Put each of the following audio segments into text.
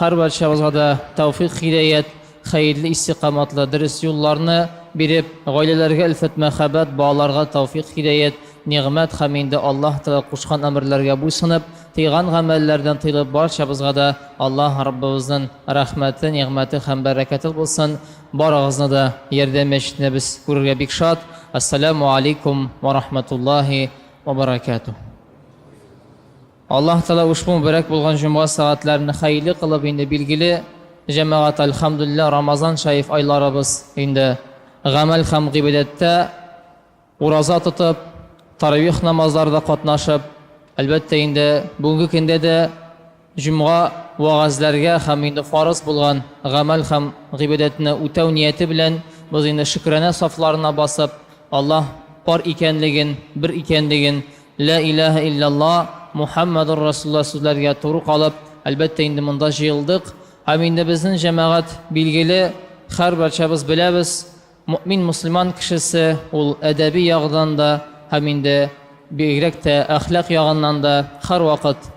Һәрбарчабызга да тәүфыйк-һидаять, хәерле истикаматлы, дөрес юлларны биреп, гаиләләргә өлфәт-мәхәббәт, балаларга тәүфыйк-һидаять, нигъмәт һәм инде Аллаһ Тәгалә кушкан әмерләргә буйсынып, тыйган гамәлләрдән тыелып барчабызга да Аллаһ Раббыбызның рәхмәте, нигъмәте һәм бәрәкәте булсын, барыгызны да ярдәм мәчетендә без күрергә бик шат, Ассаләмү алейкум вә рахмәтуллаһи вә бәрәкәтүһ. Аллаһ Тәгалә ушбу мөбарәк булган җомга сәгатьләрен хәерле кылып инде билгеле җәмәгать Әлхәмдүлилләһ Рамазан шәриф айларыбыз инде гамәл һәм гыйбадәттә ураза тотып, таравих намазларда катнашып, әлбәттә инде бүгенге көндә дә җомга вәгазьләргә һәм инде фарыз булган гамәл һәм гыйбадәтне үтәү нияте белән без инде шөкранә сафларына басып Аллаһ бар икәнлеген, бер икәнлеген, Лә иләһә иллялла, Мухәммәдур Расулулла сүзләргә туры калып, әлбәттә инде монда җыелдык. Һәм инде безнең җәмәгать, билгеле, һәрбарчабыз беләбез, мөэмин мөселман кешесе, ул әдәби ягыдан да һәм инде бигрәк тә әхлак ягыннан да һәрвакыт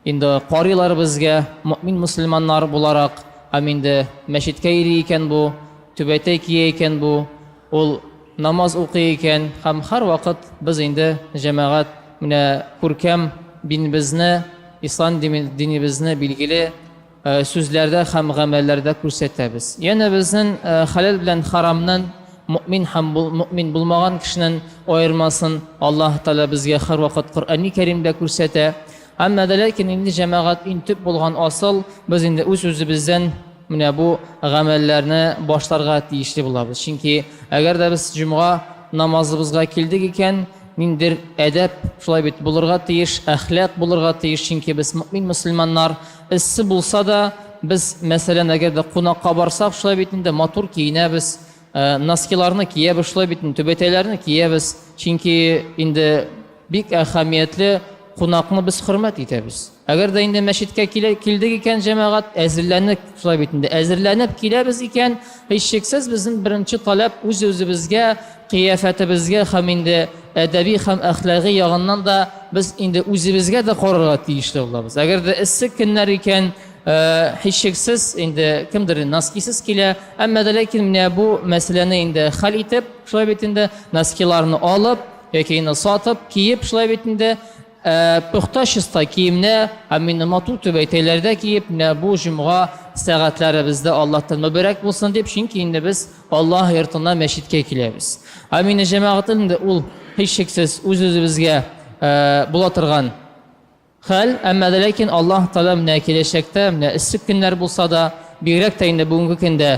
Инде карыйлар безгә, мөэмин мөселманнар буларак, һәм инде мәчеткә йөри икән бу, түбәтәй кия икән бу, ул намаз укый икән, һәм һәрвакыт без инде, җәмәгать, менә күркәм бинебезне, ислам динебезне, билгеле, сүзләрдә һәм гамәлләрдә күрсәтәбез. Янә безнен хәләл белән харамнын, мөэмин һәм мөэмин булмаган кешенен аермасын Аллаһ Тәгалә безгә һәрвакыт Коръәни Кәримдә күрсәтә. Әмма вә ләкин инде, җәмәгать, иң төп булган асыл, без инде үз-үзебездән менә бу гамәлләрне башларга тиешле булабыз. Чөнки әгәр дә без җомга намазыбызга килдек икән, ниндидер әдәп, шулай бит, булырга тиеш, әхлак булырга тиеш, чөнки без мөэмин мөселманнар. Эссе булса да, без, мәсәлән, әгәр дә кунакка барсак, шулай бит инде матур киенәбез, э, носкиларны киябез, шулай бит инде түбәтәйләрне киябез, чөнки инде бик әһәмиятле кунакны без хөрмәт итәбез. Әгәр дә инде мәчеткә килдек икән, җәмәгать, әзерләнеп, шулай бит инде, әзерләнеп киләбез икән, Һичшиксез, безнең беренче таләп үз-үзебезгә, кыяфәтебезгә һәм инде әдәби һәм әхлагый ягыннан да без инде үзебезгә дә карарга тиешле булабыз. Әгәр дә эссе көннәр икән, һичшиксез, инде кемдер носкисыз килә, әмма дә ләкин менә бу мәсьәләне инде хәл итеп, шулай бит инде, носкиларны алып яки инде сатып, киеп, шулай бит инде, Ә пөхтә чиста киемне һәм мине матур түбәтәйләрдә киеп, менә бу җомга сәгатьләребез дә Аллаһтан мөбарәк булсын дип, чөнки инде без Аллаһ йортына, мәчеткә киләбез. Амина җәмәгатен инде ул, һичшиксез, үз-үзебезгә була торган хәл, әмма дә ләкин Аллаһ Тәгалә менә киләчәктә, менә эссе көннәр булса да, бигрәк тә инде бүгенге көндә,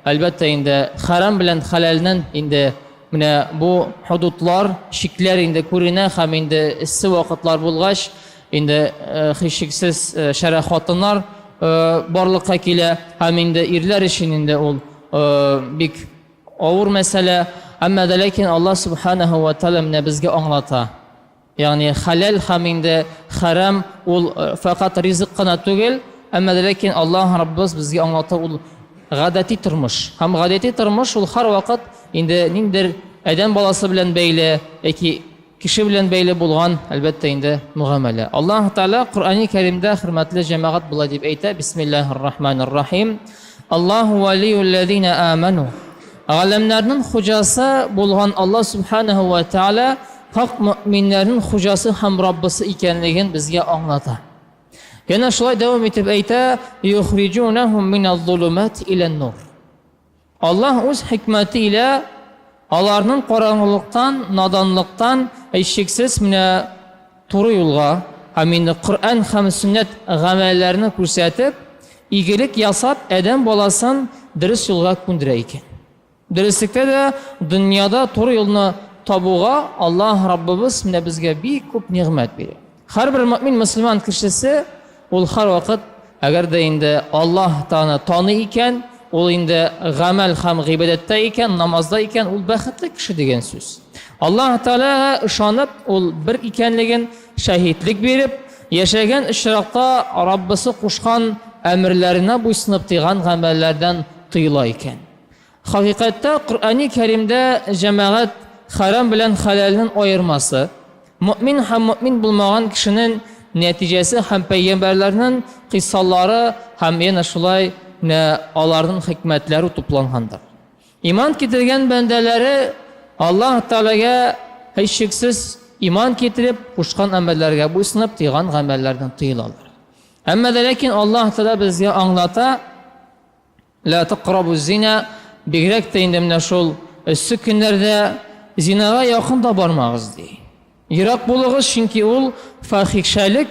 әлбәттә инде, хәрам белән хәләлнен инде, Менә бу худудлар, чикләр инде күренә һәм инде эссе вакытлар булгач, инде э, һичшиксез э, шәрә хатыннар э, барлыкка килә һәм инде ирләр өчен инде ул бик авыр мәсьәлә. Әмма дә ләкин Аллаһ субханаһу ва тааля безгә аңлата. Ягъни хәләл һәм инде хәрам ул фәкать ризык кына түгел, әмма дә ләкин Аллаһ Раббыбыз безгә аңлата ул гадәти тормыш. Һәм гадәти тормыш ул һәрвакыт инде ниндидер адәм баласы белән бәйле яки кеше белән бәйле булган, әлбәттә инде, мөгамәлә. Аллаһ Тәгалә Коръәни Кәримдә, хөрмәтле җәмәгать, болай дип әйтә, Бисмиллаһир-рахманир-рахим, Аллаһу вәлиюл-ләзина әмәну. Галәмнәрнең хуҗасы булган Аллаһ Сүбхәнәһү вә Тәгалә Хак мөэминнәрнең Хуҗасы һәм Раббысы икәнлеген безгә аңлата. Янә шулай дәвам итеп әйтә, Юхриҗунәһум миназ-зулумати илән-нур. Аллаһ үз хикмәте илә аларның караңгылыктан, наданлыктан, һичшиксез, менә туры юлга, һәм инде Коръән һәм сөннәт гамәлләрне күрсәтеп, игелек ясап, адәм баласын дөрес юлга күндерә икән. Дөреслектә дә, дөньяда туры юлны табуга Аллаһ Раббыбыз менә безгә бик күп нигъмәт бирә. Һәрбер мөэмин мөселман кешесе ул һәрвакыт, әгәр дә инде Аллаһ Тәгаләне таный икән, ул инде гамәл һәм гыйбадәттә икән, намазда икән, ул бәхетле кеше дигән сүз. Аллаһ Тәгаләгә ышанып, ул бер икәнлеген шаһитлек биреп, яшәгән очракта Раббысы кушкан әмерләренә буйсынып, тыйган гамәлләрдән тыела икән. Хакыйкатьтә Коръәни Кәримдә җәмәгать хәрам белән хәләлнен аермасы, мөэмин һәм мөэмин булмаган кешенен нәтиҗәсе һәм пәйгамбәрләрнен кыйссалары һәм янә шулай нә аларнын хикмәтләре туплангандыр. Иман китергән бәндәләре Аллаһ Тәгаләгә һичшиксез иман китереп, кушкан әмерләргә буйсынып, тыйган гамәлләрдән тыелалар. Әмма дә ләкин Аллаһ Тәгалә безгә аңлата, Лә тәкърабу зина, бигрәк тә инде менә шул эссе көннәрдә зинага якын да бармагыз, ди. Ерак булыгыз, чөнки ул фахишәлек,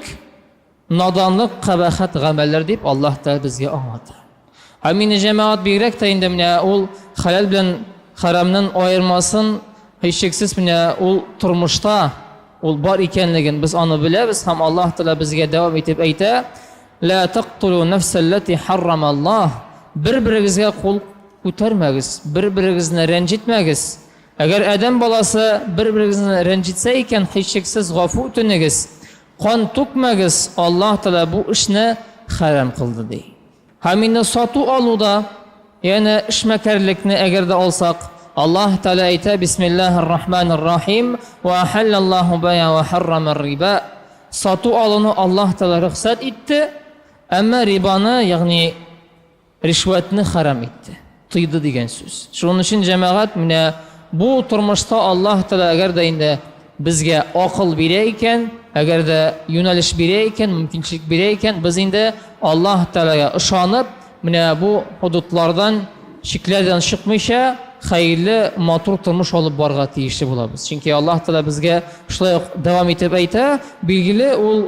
наданлык, кабахәт гамәлләр, дип Аллаһ Тәгалә безгә аңлата. Һәм инде, җәмәгать, бигрәк тә инде менә ул хәләл белән хәрамнын аермасын, һичшиксез менә ул тормышта ул бар икәнлеген без аны беләбез һәм Аллаһ Тәгалә безгә дәвам итеп әйтә, Лә тактулу нәфсә лләти һәррама Аллаһ, бер-берегезгә кул күтәрмәгез, бер-берегезне рәнҗетмәгез. Әгәр адәм баласы бер-берегезне рәнҗетсә икән, һичшиксез гафу үтенегез, кан түкмәгез, Аллаһ Тәгалә бу эшне хәрам кылды, ди. Һәм инде сату-алуда Янә эшмәкәрлекне әгәр дә алсак, Аллаһ Тәгалә әйтә, Бисмиллаһи р-Рахмани р-Рахим, Вә әхәллә Ллаһу бәйа вә хәррама р-риба, Сату-алуны Аллаһ Тәгалә рөхсәт итте, әмма рибаны, ягъни ришвәтне хәрам итте, тыйды дигән сүз. Шуның өчен, җәмәгать, менә бу тормышта Аллаһ Тәгалә әгәр дә инде Безгә акыл бирә икән, әгәр дә юнәлеш бирә икән, мөмкинчелек бирә икән, без инде Аллаһ Тәгаләгә ышанып, менә бу ходудлардан, чикләрдән чыкмыйча, хәерле, матур тормыш алып барырга тиешле булабыз. Чөнки Аллаһ Тәгалә безгә шулай ук дәвам итеп әйтә, билгеле, ул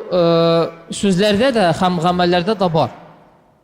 сүзләрдә дә һәм гамәлләрдә дә бар.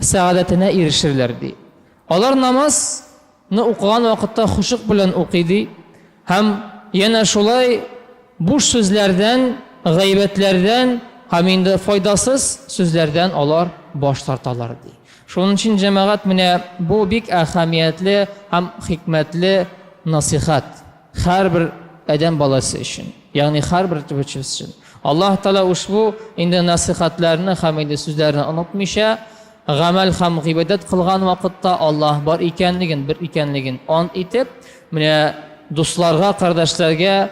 сәгадәтенә ирешерләр, ди. Алар намаз ны укыган вакытта хошук белән укый, ди, һәм янә шулай буш сүзләрдән, гайбәтләрдән һәм инде файдасыз сүзләрдән алар баш тарталар, ди. Шуның өчен, җәмәгать, менә бу бик әһәмиятле һәм хикмәтле насыйхәт. Һәрбер адәм баласы өчен, ягъни һәрбер төбәчебез өчен. Аллаһ Таала ушбу инде насыйхатларны һәм инде сүзләрне онытмыйча, гамәл һәм гыйбадәт кылган вакытта Аллаһ бар икәнлеген, бер икәнлеген ант итеп, менә дусларга, кардәшләргә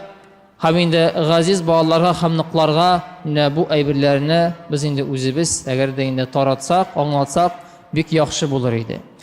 һәм инде газиз балаларга һәм ныкларга менә бу әйберләрне без инде үзебез, әгәр дә инде таратсак, аңлатсак, бик яхшы булыр иде.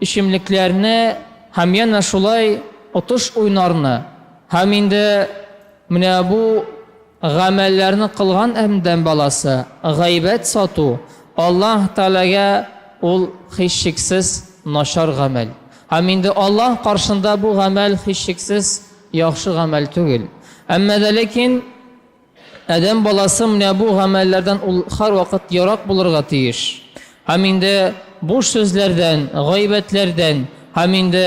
эчемлекләрне һәм янә шулай отыш уйнарны һәм инде менә бу гамәлләрне кылган әмдәм баласы гайбәт сату Аллаһ Тәгаләгә ул һичшиксез начар гамәл һәм инде Аллаһ каршында бу гамәл һичшиксез яхшы гамәл түгел әмма дә ләкин Адәм баласы менә бу гамәлләрдән ул һәрвакыт ерак булырга тиеш. Һәм инде буш сүзләрдән, гайбәтләрдән, һәм инде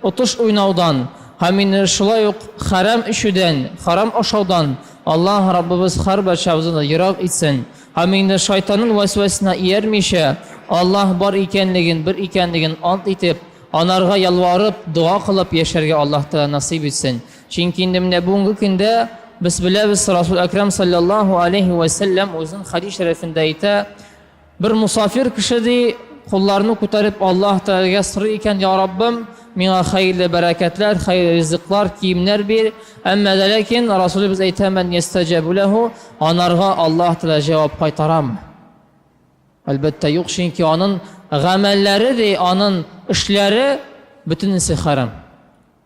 отыш уйнаудан, һәм инде шулай ук хәрам эчүдән, хәрам ашаудан Аллаһ Раббыбыз һәрбарчабызны да ерак итсен. Һәм инде шайтанын вәсвәсенә иярмичә, Аллаһ бар икәнлеген, бер икәнлеген ант итеп, анарга ялварып, дога кылып яшәргә Аллаһ Тәгалә насыйп итсен. Чөнки инде менә бүгенге көндә без беләбез, Расул Әкрам саллаллаһу алейһи вә сәлләм үзенең хәдис шәрәфендә әйтә, бер мусафир кеше ди, кулларны күтәреп Аллаһ Тәгаләгә сорый икән, Я Раббым, миңа хәерле бәрәкәтләр, хәерле ризыклар, киемнәр бир, әмма дә ләкин Расулыбыз әйтә, Мән йәстәҗәбу ләһу, анарга Аллаһ Тәгалә җавап кайтарамы? Әлбәттә, юк, чөнки анын гамәлләре ди, анын эшләре бөтенесе хәрам.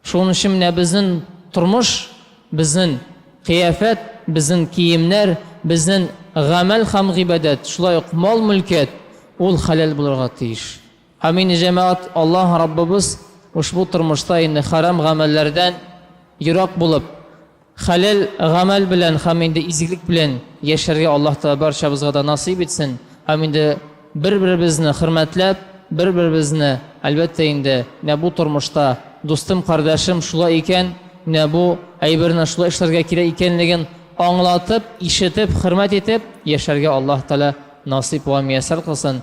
Шуның өчен менә безнен тормыш, безнен кыяфәт, безнен киемнәр, безнен гамәл хәм гыйбадәт, шулай ук мал-мөлкәт, ул хәләл булырга тиеш. Амин, җәмәгать, Аллаһ Раббыбыз ошбу тормышта инде хәрам гамәлләрдән ерак булып, Хәләл гамәл белән һәм инде изгелек белән яшәргә Аллаһ Тәгалә барчабызга да насыйп итсен һәм инде бер-беребезне хөрмәтләп, бер-беребезне, әлбәттә инде, менә бу тормышта, дустым, кардәшем, шулай икән, менә бу әйберне шулай эшләргә кирәк икәнлеген аңлатып, ишетеп, хөрмәт итеп яшәргә Аллаһ Тәгалә насыйп вә мияссәр кылсын.